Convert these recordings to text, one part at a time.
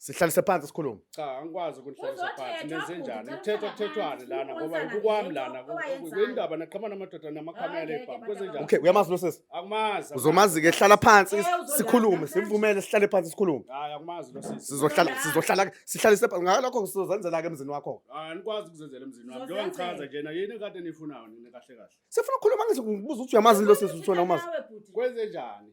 sihlalise phansi sikhulume cha angikwazi ukunihlalisa phansi nezenjani kuthetha kuthethwane lana ngoba kukwami lana kuyindaba naqhamana amadoda namakhamera lebhamu kwezenjani okay uyamazi lo sesi akumazi uzomazi ke hlala phansi sikhulume simvumele sihlale phansi sikhulume hayi akumazi lo sesi sizohlala sizohlala sihlalise phansi ngalokho sizozenzela ke emzini wakho hayi anikwazi ukuzenzela emzini wami njengoba ngichaza nje na yini kade nifunayo nina kahle kahle sifuna ukukhuluma ngizokubuza ukuthi uyamazi lo sesi uthona umazi kwezenjani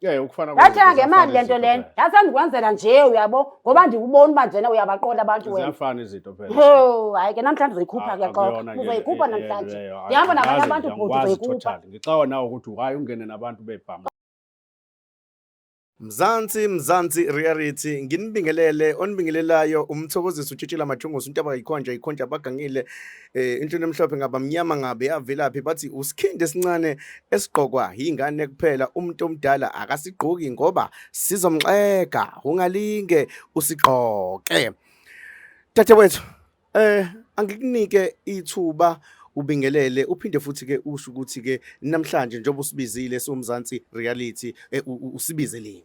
Yeah, ukufana Yathi angemali lento lena. Yathi andikwenzela nje uyabo ngoba ndikubona uba njena uyabaqola abantu wena. Ziyafana izinto phela. Oh, hayi ke namhlanje uzoyikhupha ke xoxa. Uzoyikhupha namhlanje. Ndihamba nabanye abantu bhuti uzoyikhupha. Ngixawa nawe ukuthi why ungene nabantu bebhama. Mzansi Mzansi Reality nginibingelele onibingelelayo umthokozisi utshitshela mathungosi untaba yikhonja yikhonja bagangile eh into emhlophe ngaba mnyama ngabe yavelaphi bathi usikhindi esincane esigqokwa ingane kuphela umuntu omdala akasigqoki ngoba sizomxega ungalinge usigqoke Tata wethu eh angikunike ithuba ubingelele uphinde futhi ke usho ukuthi ke namhlanje njengoba usibizile somzansi reality eh, usibizeleni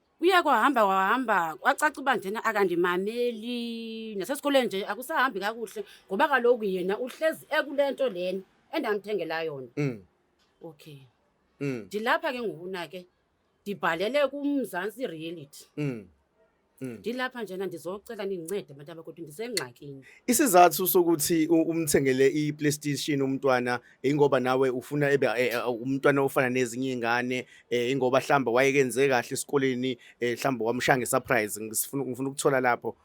Kuye kwahamba kwahamba kwacaca uba njena akandimameli nasesikoleni nje akusahambi kakuhle ngoba kaloku yena uhlezi ekule nto lena endamthengela yona Mm. okay Mm. ndilapha ke ngokuna ke ndibhalele kumzantsi reality Mm. Mm. ndilapha njena ndizocela nindincede abantu abakuthi ndisengxakini isizathu sokuthi u- umthengele i-playstation umntwana ingoba nawe ufuna ebe eh, eh, umntwana ofana nezinye izingane eh, ingoba hlamba wayekenze kahle esikoleni hlamba wamshanga surprise ngifuna ngifuna ukuthola lapho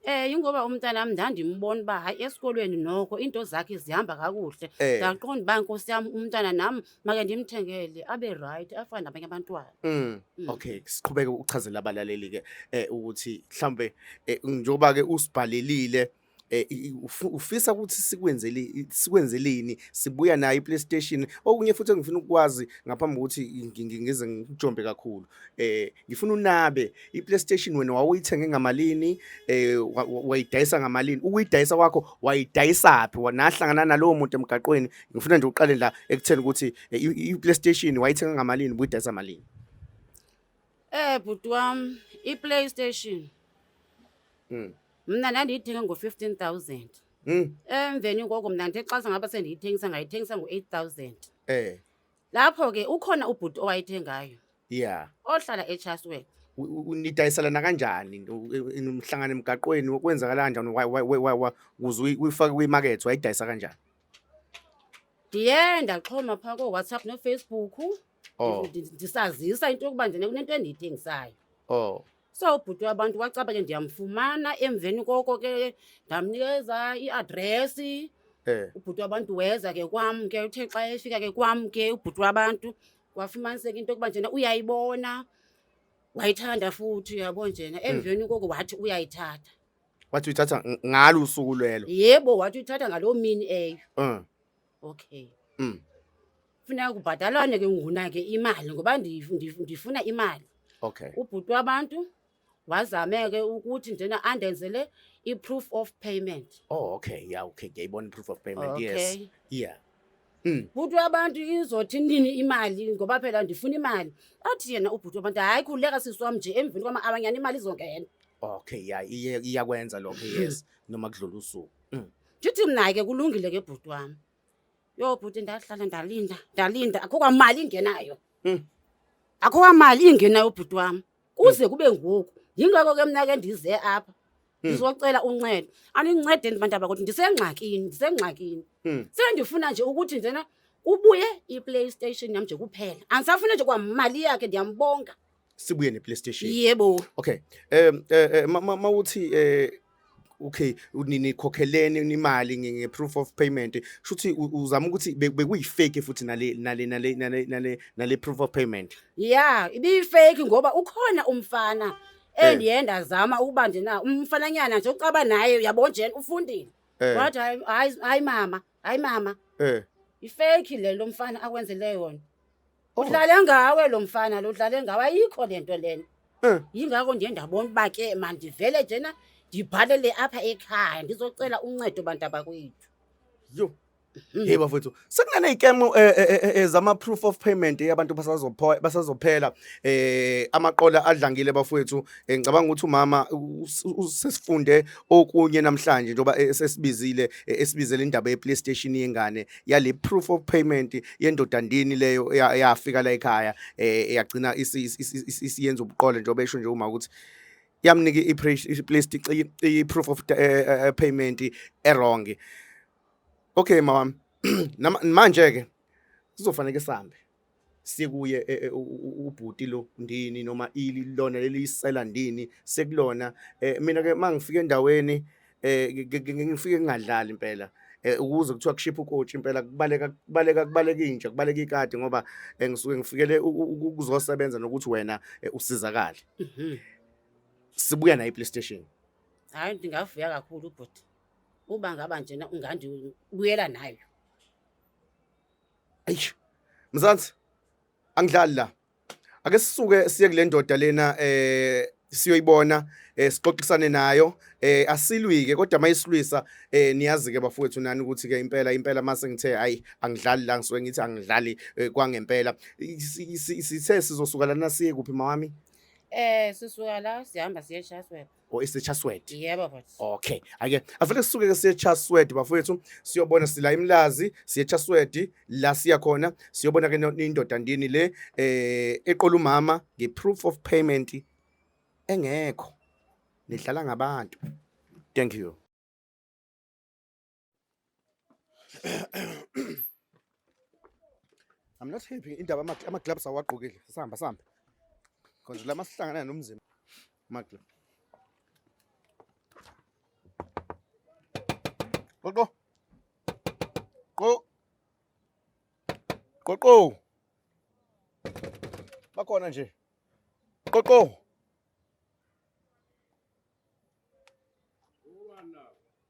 Eh ingoba umntana wami ndandimbona uba hayi esikolweni noko into zakhe zihamba kakuhle. Eh. Ndaqonda uba nkosi yami umntana nami make ndimthengele abe right afane nabanye abantwana. Mm. Mm. Okay, siqhubeke ukuchazela abalaleli ke eh ukuthi mhlambe eh, njengoba ke usibhalelile eh, ufisa ukuthi sikwenzele sikwenzeleni sibuya nayo iPlayStation okunye futhi engifuna ukwazi ngaphambi ukuthi ngize ngijombe kakhulu eh ngifuna unabe iPlayStation wena wawuyithenge ngamalini eh wayidayisa ngamalini ukuyidayisa kwakho wayidayisa phi wanahlangana nalowo muntu emgaqweni ngifuna nje uqale la ekutheni ukuthi eh, iPlayStation wayithenga ngamalini ubuyidayisa malini eh bhuti wami iPlayStation mm mna ndandiyithenga ngo-fifteen thousand Mm. emveni koko mna ndixasa ngaba sendiyithengisa ngayithengisa ngo-eight thousand Eh. lapho ke ukhona ubhuti owayithengayo Yeah. ohlala echaswork U- u- Nidayiselana kanjani u- u- umhlangano emgaqweni kwenzakala kanjani Wa- wa- wa- wa- wa- ukuze uyi- uyifake kwimakethe wayidayisa kanjani? ndiye ndaxhoma phaa kowhatsapp nofacebook Oh. Ndi- ndi- ndisazisa into yokuba njena kunento endiyithengisayo Oh. so ubhuti wabantu wacaba ke ndiyamfumana emveni koko ke ndamnikeza iadresi Eh. ubhuti wabantu weza ke kwam ke uthe xa efika ke kwam ke ubhuti wabantu wafumaniseka into yokuba njena uyayibona wayithanda futhi uyabo njena emveni koko wathi uyayithatha Wathi uyithatha ng- ngalo usuku lwelo. yebo wathi uyithatha ngaloo mini eyo Uh. okay Mm. Funeka kubhatalwane ke ngona ke imali ngoba ndif- ndif- ndifuna imali. Okay. Ubhuti wabantu wazame ke ukuthi njena andenzele i-proof of payment. Oh, okay. Yeah, okay. Ngiyayibona i-proof of payment. Yes. Okay. Yeah. Mm. Bhuti wabantu izothi nini imali ngoba phela ndifuna imali. Athi yena ubhuti wabantu hayi khuleka sisi wami nje emveni kwama-hour nyana imali izongena. Okay, yeah. Iye iyakwenza lokho. Yes. Noma kudlula usuku. Mm. Ndithi mna ke kulungile ke bhuti wami. Yho bhuti ndahlala ndalinda ndalinda akho kwamali ingenayo Mm. akho kwamali ingenayo bhuti wami kuze kube ngoku yingakho ke mna ke ndize apha ndizocela uncedo anincede ndibantaba kodwa ndisengxakini ndisengxakini Mm. sendifuna nje ukuthi njena kubuye iplaystation yam nje kuphela andisafuna nje kwamali yakhe ndiyambonga sibuye ne PlayStation yebo okay um eh, eh, mawuthi eh okay nikhokheleni imali nge proof of payment shuthi uzama ukuthi bekuyi fake futhi nale nale nale nale nale proof of payment yeah ibi fake ngoba ukhona umfana endiyenda eh. zama ukuba nje na umfananyana nje ucaba naye uyabona nje ufundile eh. wathi hayi hayi mama hayi mama Eh. ifeki le lo mfana akwenzele yona Oh. udlale ngawe lo mfana lo udlale ngawe ayikho le nto lena Eh. yingakho nje ndabona uba ke mandivele njena ndibhalele apha ekhaya ndizocela uncedo bantu abakwethu Yo. Mhm. Hey bafethu, sekunane ikemo ezama proof of payment yabantu basazopho basazophela eh amaqola adlangile bafethu Eh, ngicabanga ukuthi umama usesifunde okunye namhlanje njengoba eh, sesibizile eh, esibizele indaba ye-playstation yengane yale proof of payment yendoda ndini leyo yafika la ekhaya yagcina isiyenza ubuqole njengoba esho nje uma ukuthi yamnika i-proof of payment erong okay mama manje-ke sizofanele sihambe sekuye eh, eh, ubhuti lo ndini noma ili lona lelisela ndini sekulona eh, mina ke mangifika endaweni ngifike ngingadlali impela ukuze kuthiwa kushipha ukochi impela kubaleka kubaleka kubaleka inja kubaleka ikati ngoba ngisuke ngifikele ukuzosebenza nokuthi wena usizakale mhm. sibuya nayo iPlayStation hayi ndingavuya kakhulu ubhuti uba ngaba njena ungandibuyela nayo Eish. Mzansi angidlali la. Ake sisuke siye kule ndoda lena eh siyoyibona eh sixoxisane nayo eh asilwike kodwa mayisilwisa eh niyazi ke bafowethu nani ukuthi ke impela impela mase ngithe hayi angidlali la ngisuke ngithi angidlali eh, kwangempela sithe sizosuka lana siye kuphi mawami Eh sisuka la sihamba siye Chatsworth. or isechasword yebo bhuti okay ake avele sisuke ke siye chasword bafowethu siyobona sila imlazi siye chasword la siya khona siyobona ke no- indoda ndini le eh eqola umama nge proof of payment engekho nidlala ngabantu thank you I'm not happy indaba ama gloves awagqokile. Sihamba sihamba. Konje la masihlangana nomzimba. Ama gloves. Qoqo. Qo. Qoqo. Bakhona nje. Qoqo.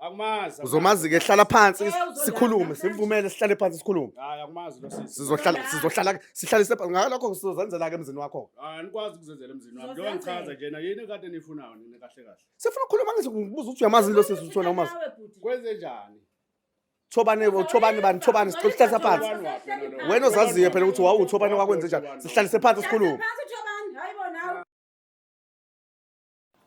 Akumazi. Uzomazi ke hlala phansi Eh, uzodlala sikhulume phansi. sivumele sihlale phansi sikhulume. Hayi akumazi lo sisi. Sizohlala Uzodlala. sizohlala sihlale sepha ngalokho sizozenzela ke emzini wakho. Hayi anikwazi ukuzenzela emzini wami. Njengoba Uzozenzela. ngichaza njena yini kade nifunayo nina kahle kahle. Sifuna ukukhuluma ngithi ngibuza ukuthi uyamazi lo sisi uthona umazi. Nawe bhuti. Kwenze njani? Thobane thobane bani thobane sihlale phansi. Thobani waphi yena lo? Wena ozaziyo phela ukuthi wawu thobane wakwenze njani. Sihlale phansi sikhulume. Phansi uthobani? Hayi bo nawe.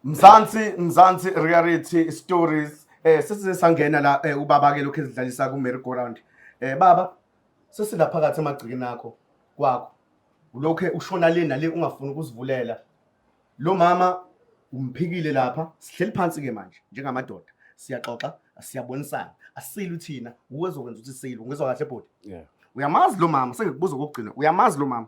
Mzansi Mzansi reality stories eh sesize sangena la eh, ubaba ke lokho ezidlalisa ku merry go round eh baba sesilapha phakathi emagcikini akho kwakho ulokhe ushona le nale ungafuni ukuzivulela lo mama umphikile lapha sihleli phansi ke manje njengamadoda siyaxoxa siyabonisana asilu thina uwezokwenza ukuthi silu ngizwa kahle bhuti yeah uyamazi lo mama sengikubuza kokugcina uyamazi lo mama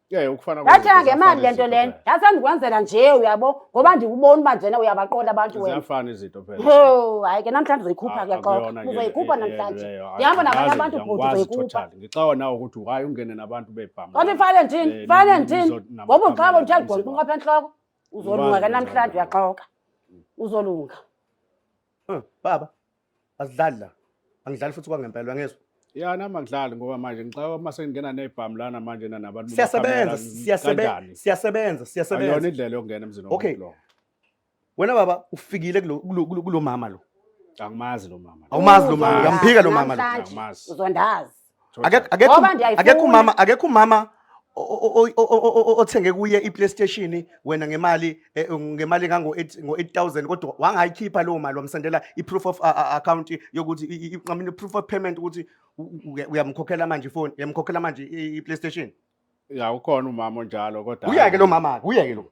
Yeah, ukufana Yathi angemali lento lena. Yathi andikwenzela nje uyabo ngoba ndikubona uba njena uyabaqola abantu wena. Ziyafana izinto phela. Oh, hayi ke namhlanje uzoyikhupha ke xoxa. Uzoyikhupha namhlanje. Ndihamba nabanye abantu bhuti uzoyikhupha. Ngixawa nawe ukuthi why ungene nabantu bebhama. Kodwa ifane ndini? Eh, ifane ndini? Ngoba uqhabo nje agqoka inqopha enhloko. Uzolunga ke namhlanje uyaxoka. Uzolunga. Eh, baba asidlali la angidlali futhi kwangempela uyangizwa ya nami angidlali ngoba manje ngixaka uma sengingena nebhamu lana manje na nabantu siyasebenza siyasebenza siyasebenza siyasebenza ayona indlela yokungena emzini okay. lo wena baba ufikile kulo kulo- kulo- kulo mama lo angimazi lo mama lo. awumazi lo mama uyamphika lo mama lo Namhlanje Angimazi. uzondazi akekho umama akekho umama othenge kuye i-playstation wena ngemali eh, ngemali engango-8000 kodwa wangayikhipha leyo mali wamsendela i-proof of account yokuthi nqamini i-proof of payment ukuthi uyamkhokhela manje ifoni uyamkhokhela manje i-playstation ya ukhona umama onjalo kodwa uyeke lo mama-ke uyeke lo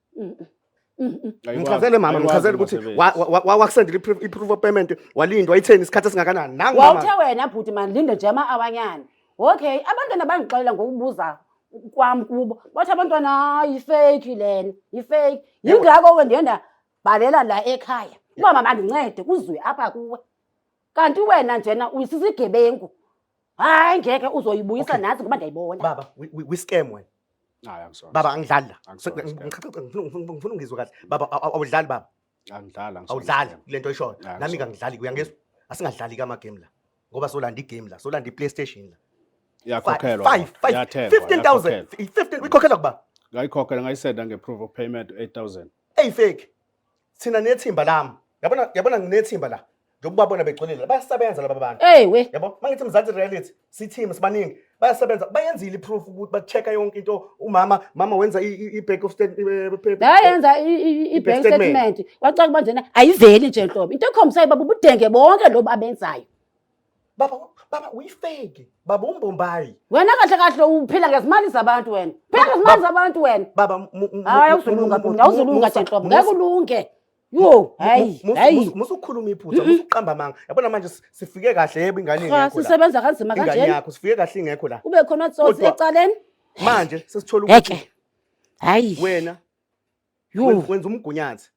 Ngichazele mama, ngichazele ukuthi wakusendela i-proof of payment walindwa itheni isikhathi esingakanani. Nangu mama. Wawuthe wena bhuti mani linde nje ama awanyana. Okay, abantwana bangixolela ngokubuza kwam kubo. Bathi abantwana hayi fake lena, yifake. Yingakho ke ndiyenda bhalela la ekhaya. Uba mama ndincede kuzwe apha kuwe. kanti wena njena uyisisigebengu hayi ngeke uzoyibuyisa Okay. nazi ngoba ndiyayibona baba we- we- we scam wena hayi angisona baba angidlali la I'm sorry, Ngicela- ngicela- ngifuna ngifuna- ngifuna ungizwe kahle baba aw- aw- awudlali baba angidlali angisona awudlali scam. kule nto oyishoyo Yeah, nami ngizwa. kangidlali kuyangizwa asingadlali kamagame la ngoba solanda igame la solanda i-playstation la yakhokhelwa Five- five- yathengwa, 15,000 yakhokhelwa. 15 uyikhokhela kuba ngayikhokhela ngayisenda nge-proof of payment 8000 eyifeki thina nethimba lami yabona yabona nginethimba la ngiyokubabona begcolile la bayasebenza laba bantu Hey we. yabo mangithi mzansi reality sithimba sibaningi bayasebenza bayenzile iproof ukuthi ba-check-a yonke into umama mama wenza i- i- i-back of stand- eh, pe- pe- Yayenza i- i- i- i-bank Bank statement. statement. Wacaka manje na ayiveli nje nhlobo. Into ekhombisayo baba ubudenge bonke lobu abenzayo. baba baba uyifeki baba umbombayi wena kahle kahle uphila ngezimali zabantu wena phila ngezimali zabantu wena baba mu- mu- mu- hayi mu- awuzulunga mu- bhuti mu- awuzulunga mu- nje nhlobo mu- ngeke ulunge yo hayi mu- mu- hayi mu- musukhuluma iphutha musuqamba amanga yabona manje si- sifike kahle yebo ingane cha ingekho la sisebenza kanzima ingane kanjena yakho sifike kahle ingekho la ube khona tsotsi Kodwa- ecaleni manje sesithola ukuthi ngeke hayi wena yo wen- wenza umgunyathi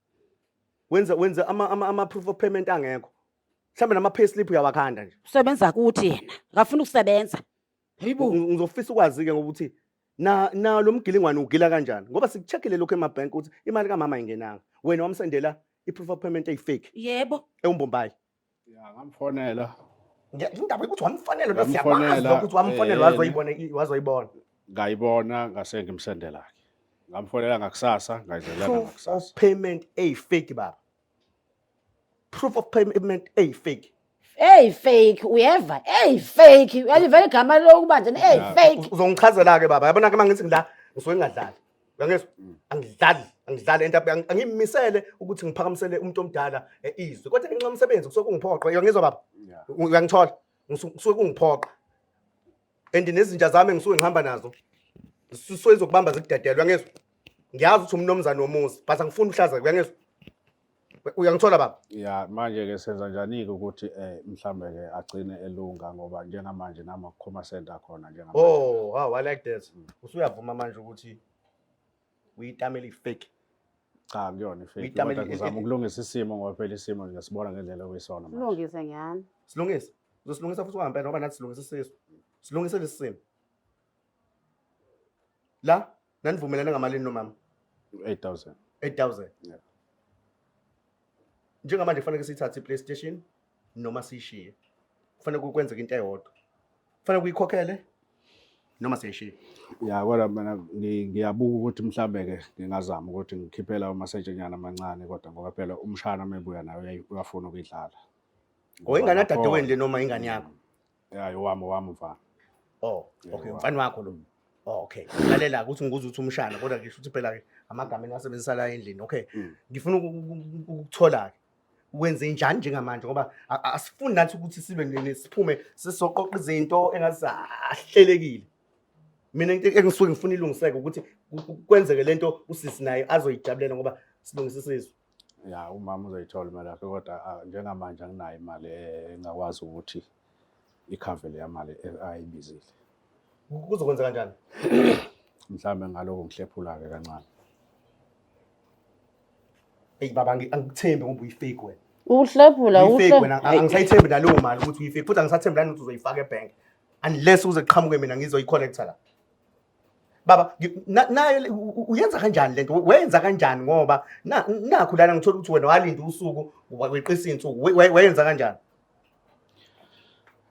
wenza wenza ama ama ama proof of payment angekho mhlawumbe nama-payslip uyawakhanda nje usebenza kuthi yena akafuni ukusebenza hayibo Ngi- ngizofisa ukwazi-ke ngokuthi na na lo mgilingwane ugila kanjani ngoba sikucheckile lokhu emabhenki ukuthi imali kamama ayingenanga wena wamsendela i-proof of payment eyi-fake yebo ewumbombayi Ya, ngamfonela Nge- indaba yokuthi wamfonela lo siyakwazi Wamfonela, ukuthi wamfonela eh, wazoyibona i- wazoyibona ngayibona ngase ngimsendela-ke ngamfonela ngakusasa ngayidlelela proof of ngakusasa payment eyi-fake baba proof of payment eyi fake eyi fake uyeva eyi fake uyalivela igama lokuba njani eyi fake uzongichazela ke baba yabona ke mangithi ngila ngisuke ngingadlali uyangizwa angidlali angidlali ento yami, angi- angimisele ukuthi ngiphakamisele umuntu omdala eh, izwi kodwa ngenxa yomsebenzi kusuke kungiphoqe uyangizwa baba uyangithola Ngisu- kusuke kungiphoqa and nezinja zami engisuke ngihamba nazo zisuke zokubamba zikudedelwe angezwa ngiyazi ukuthi umnomzane womuzi but angifuni uhlaza kuyangezwa uyangithola baba ya manje ke senza njani ke ukuthi eh mhlambe ke agcine elunga ngoba njengamanje nama khoma center khona njengamanje oh wow i like that usuyavuma manje ukuthi uyitamela ifake cha kuyona ifake Uyitamela- kodwa uzama ukulungisa isimo ngoba phela isimo nje sibona ngendlela okuyisona manje Silungise ngani? silungise uzosilungisa futhi kwangempela ngoba nathi silungisa isisu silungise lesi simo la nanivumelane ngamalini nomama 8000 8000 Yeah. njengamanje kufanele siyithathe i-playstation noma siyishiye kufanele kwenzeke into eyodwa kufanele kuyikhokhele noma siyishiye ya kodwa mina ngiyabuka ukuthi mhlawumbe-ke ngingazama ukuthi ngikhiphela umasetshanyana amancane kodwa ngoba phela umshana uma ebuya nayo uyafuna ukuyidlala or ingane yadadewenu le noma ingane yakho Hayi owami owami mfana. Oh, Yeah, okay, wow. mfana wakho lo. Oh, okay. Lalela ukuthi ngikuza ukuthi umshana kodwa ngisho ukuthi phela ke amagama enasebenzisa la endlini. Okay. Mm. Ngifuna uku- uku- uku- ukuthola ke. Wenze njani njengamanje ngoba a- a- asifuni nathi ukuthi sibe ne- ne- siphume sisoqoqa izinto engazahlelekile. Mina into engisuke ngifuna ilungiseke ukuthi ku- ku- kwenzeke lento usisi naye azoyijabulela ngoba silungisa isizwe. ya umama uzoyithola imali yakhe kodwa ah, njengamanje anginayo imali eh, engakwazi ukuthi ikhave leya mali eh, ayibizile Kuzokwenza kanjani? mhlawumbe ngaloko ngihlephula-ke kancane Eyi baba angi- angikuthembi ngoba uyifake wena. Uhlephula Uyifake uhle. wena ang- angisayithembi naleyo mali ukuthi uyifake futhi angisathembi nani ukuthi uzoyifaka ebhenki. Unless uze kuqhamuke mina ngizoyi-collector la. baba nayo uyenza kanjani lento wayenza kanjani ngoba nakho lana ngithola ukuthi wena walinda usuku weqisa insuku wayenza kanjani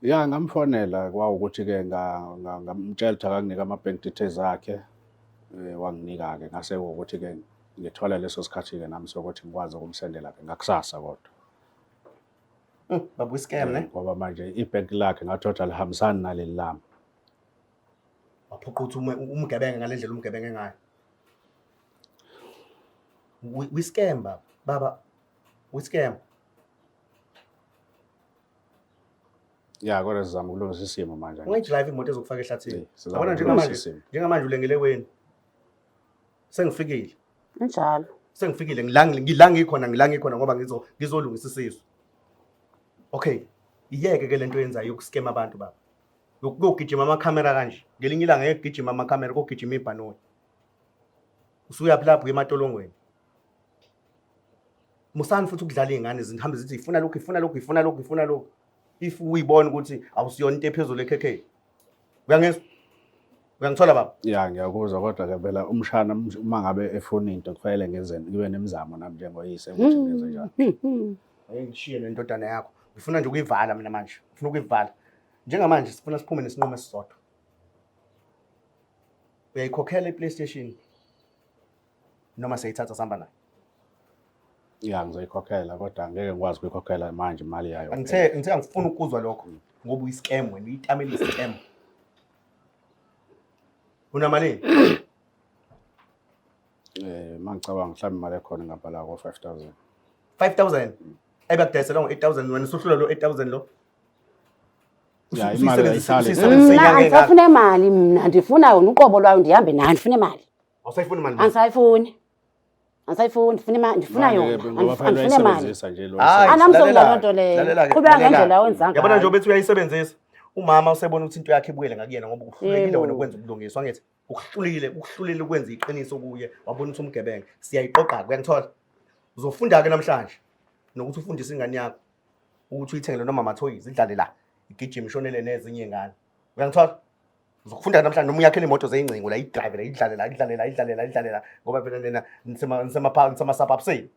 ya ngamfonela kwawukuthi ke ngamtshela ukuthi akanginike ama bank details akhe eh, wanginika ke ngase ukuthi ke ngithola leso sikhathi ke nami sokuthi ngikwazi ukumsendela ke ngakusasa kodwa hmm, babu scam ne eh, ngoba manje i bank lakhe ngathola lihambisani naleli lami waphoqa ukuthi umgebenga ngale ndlela umgebenge ngayo wiscam baba baba wiscam ya kodwa sizama ukulungisa isimo manje ungayidrayive imoto ezokufaka ehlathini yabona njengamanje njengamanje ulengelekweni sengifikile njalo sengifikile ngila ngikhona ngila ngikhona ngoba ngizolungisa isizwe okay iyeke ke lento yenzayo yokuskema abantu baba Lokhu kogijima amakhamera kanje. Ngelinye ilanga ngeke kugijima amakhamera kogijima ibhanoyi. Usuyaphi lapho ematolongweni? Musani futhi ukudlala izingane zihambe zithi ifuna lokhu ifuna lokhu ifuna lokhu ifuna lokhu. If uyibona ukuthi awusiyona into ephezulu ekhekheni. Uyangizwa? Uyangithola baba? Ya ngiyakuzwa kodwa ke phela umshana uma ngabe efuna into kufanele ngenze ngibe nemizamo nami njengoyise ukuthi ngenze njani. Hey ngishiye nendodana yakho. Ngifuna nje ukuyivala mina manje. Ngifuna ukuyivala. Njengamanje sifuna siphume nesinqumo esisodwa. Uyayikhokhela iPlayStation noma seyithatha sihamba nayo. Ya ngizoyikhokhela kodwa ngeke ngikwazi ukuyikhokhela manje imali yayo. Ngithe ngithe angifuni ukuzwa lokho ngoba uyiscam wena uyitamela iscam. Unamalini? Eh mangicabanga mhlawumbe imali ekhona ngapha la ko 5000. 5000. Ebe kudayisela ngo 8000 wena usuhlula lo 8000 lo. Ya imali ayisali. Mna andisafuna imali mna ndifuna yona uqobo lwayo ndihambe nayo ndifuna imali. Awusayifuni imali. Andisayifuni. Andisayifuni ndifuna imali ndifuna yona. Andifuna imali. Anamsonga loo nto leyo. Qhubeka ngendlela owenza ngayo. Yabona nje ubethi uyayisebenzisa. Umama usebona ukuthi into yakhe ibuyele ngakuyena ngoba uhlulekile wena ukwenza ubulungiswa ngithi. ukuhlulile ukuhlulile ukwenza iqiniso kuye wabona ukuthi umgebenga siyayiqoqa-ke uyangithola uzofunda-ke namhlanje nokuthi ufundise ingane yakho ukuthi uyithengele noma amathoyizi idlale la igijima ishonele nezinye ingane uyangithola uzokufunda namhlanje noma uyakhela imoto zeyingcingo la idrive la idlale la idlale la idlale la idlale la ngoba phela nina nisemasabhabuseni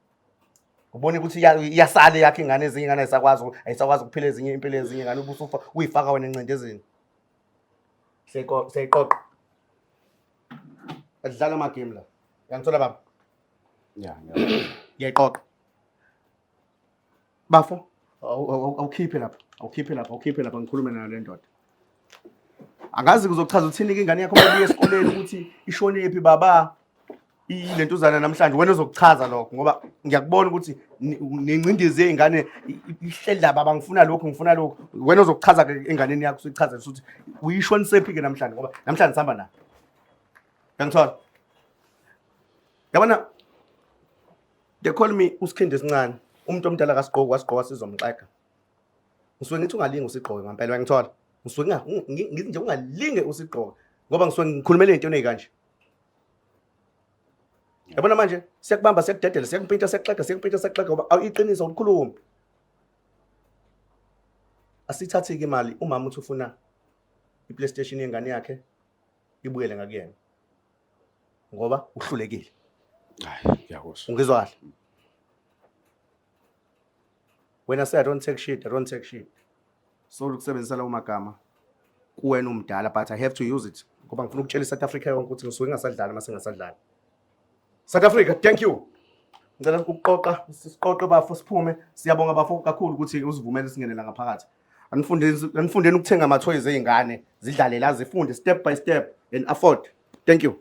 ubone ukuthi iyasale yakhe ingane ezinye ingane ayisakwazi ayisakwazi ukuphila ezinye impilo ezinye ngane ubusufa uyifaka wena encindezini siyayiqoqa adlala amagame la uyangithola baba ya ngiyayiqoqa bafo awukhiphe lapha awukhiphe lapha awukhiphe lapha ngikhulume nayo le ndoda angazi kuzochaza uthini-ke ingane yakho mabuye esikoleni ukuthi ishonephi baba ilentuzana namhlanje wena uzokuchaza lokho ngoba ngiyakubona ukuthi nengcindezi yey'ngane ihleli laba bangifuna lokhu ngifuna lokhu wena uzokuchaza ke enganeni yakho usuyichaza ukuthi uyishonisephi-ke namhlanje ngoba namhlanje sihamba nayo yangithola yabona they call me usikhindi esincane umuntu omdala kasigqoki wasigqoka sizomxega ngisuke ngithi ungalingi usigqoke ngampela uyangithola ngisuke ngithi nje ungalinge usigqoke ngoba ngisuke ngikhulumela into eneyikanje yabona manje siyakubamba siyakudedela siyakumpintsha siyakuxega siyakumpintsha siyakuxega ngoba awuyiqiniso ulikhulumi asithathi-ke imali umama uthi ufuna i-playstation yengane yakhe ibuyele ngakuyena ngoba uhlulekile hayi ngiyakuzwa ungizwa kahle wena say i don't take shit i don't take shit so ukusebenzisa lawo magama kuwena umdala but i have to use it ngoba ngifuna ukutshela i-south africa yonke ukuthi ngisuke ngingasadlali uma sengasadlali south africa thank you ngicela ukuqoqa siqoqe bafo siphume siyabonga bafo kakhulu ukuthi usivumele singenela ngaphakathi anifundeni anifundeni ukuthenga amathoyiz ezingane zidlalela zifunde step by step and afford thank you